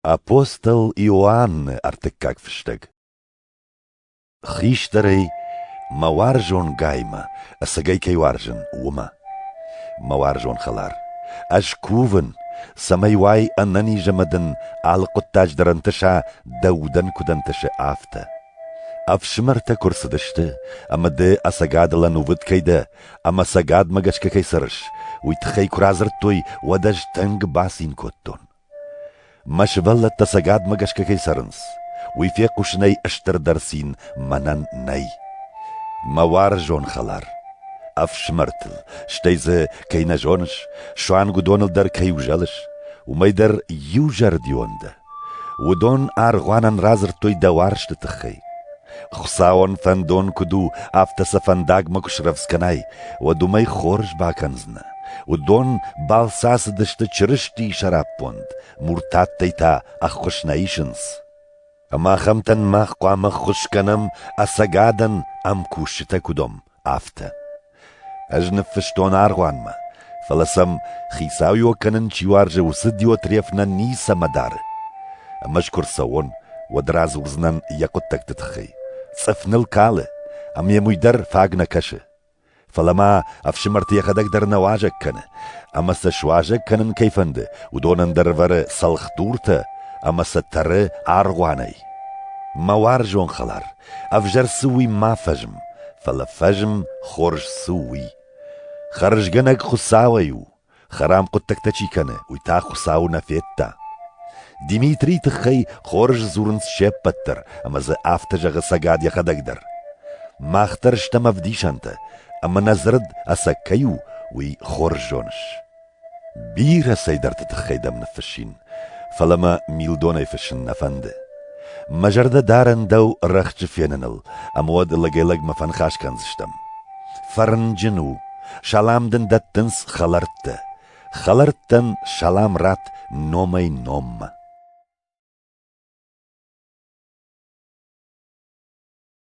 Апостол Иоанны ӕртыккаг фыстӕг Хистӕрӕй мӕ уарзонгаймӕ ӕцӕгӕй кӕй уарзын, уымӕ. Мӕ уарзон хӕлар, ӕз кувын, цӕмӕй уай ӕнӕнизӕмӕ дын алы хъуыддаджы дӕр ӕнтыса дӕ удӕн куыд ӕнтысы, афтӕ. Ӕфсымӕртӕ куы рцыдысты, ӕмӕ ды ӕцӕгадыл ӕнувыд кӕй дӕ, ӕмӕ цӕгатмӕ гӕсгӕ кӕй цӕрыс, уый тыххӕй куы радзырдтой, уӕд ӕз тынг бацин кодтон. Мӕ сывӕллӕттӕ цӕгатмӕ гӕсгӕ кӕй цӕрынц, уый фехъусынӕй стырдӕр цин мӕнӕн нӕй. Мӕ уарзон хӕлар, ӕфсымӕртыл, стӕй дзы, кӕй нӕ зоныс, суанг уыдоныл дӕр кӕй узӕлыс, уымӕй дӕр иузӕрдион дӕ. Уыдон аргъуанӕн радзырдтой дӕ уарзты тыххӕй. Хуыцауӕн фӕндон куыд у, афтӕ сӕ фӕндагмӕ куы срӕвдз кӕнай, уӕд уымӕй хорз бакӕндзынӕ. Уыдон балц ацыдысты Чырыстийы сӕраппонд, муртаттӕй та ӕххуыс нӕ исынц. Ӕмӕ ахӕмтӕн мах хъуамӕ ӕххуыс кӕнӕм, ӕцӕгадӕн ӕмкусджытӕ куыд уӕм, афтӕ. Ӕз ныффыстон аргъуанмӕ, фӕлӕ сӕм, хицауиуӕг кӕнын чи уарзы, уыцы Диотреф нӕ ницӕмӕ дары. Ӕмӕ ӕз куы рцӕуон, уӕд радзурдзынӕн йӕ хъуыддӕгты тыххӕй. Цъыф ныл кӕлы, ӕмӕ йӕм уый дӕр фаг нӕ кӕсы. Фӕлӕ ма ӕфсымӕрты йӕхӕдӕг дӕр нӕ уазӕг кӕны, ӕмӕ сӕ суазӕг кӕнын кӕй фӕнды, уыдон ӕндӕр вӕры цӕлхдуртӕ ӕмӕ сӕ тӕры аргъуанӕй. Мӕ уарзон хӕлар, ӕвзӕр цы уый ма фӕзм, фӕлӕ фӕзм хорз цы у уый. Хӕрзгӕнӕг Хуыцауӕй у, Хӕрам хъуыддӕгтӕ чи кӕны, уый та Хуыцауы нӕ федта. Димитрийы тыххӕй хорз дзурынц се ппӕт дӕр, ӕмӕ дзы афтӕ зӕгъы цӕгат йӕхӕдӕг дӕр. Мах дӕр стӕм ӕвдисӕнтӕ, ӕмӕ нӕ дзырд ӕцӕг кӕй у, уый хорз зоныс. Бирӕ цӕйдӕрты тыххӕй дӕм ныффыссин. Фӕлӕ мӕ милдонӕй фыссын нӕ фӕнды. Мӕ зӕрдӕ дарӕн дӕу рӕхджы феныныл, ӕмӕ уӕд лӕгӕй-лӕгмӕ фӕныхас кӕндзыстӕм. Фӕрнджын у, салам дын дӕттынц хӕлӕрттӕ. Хӕлӕрттӕн салам ратт номӕй-номмӕ.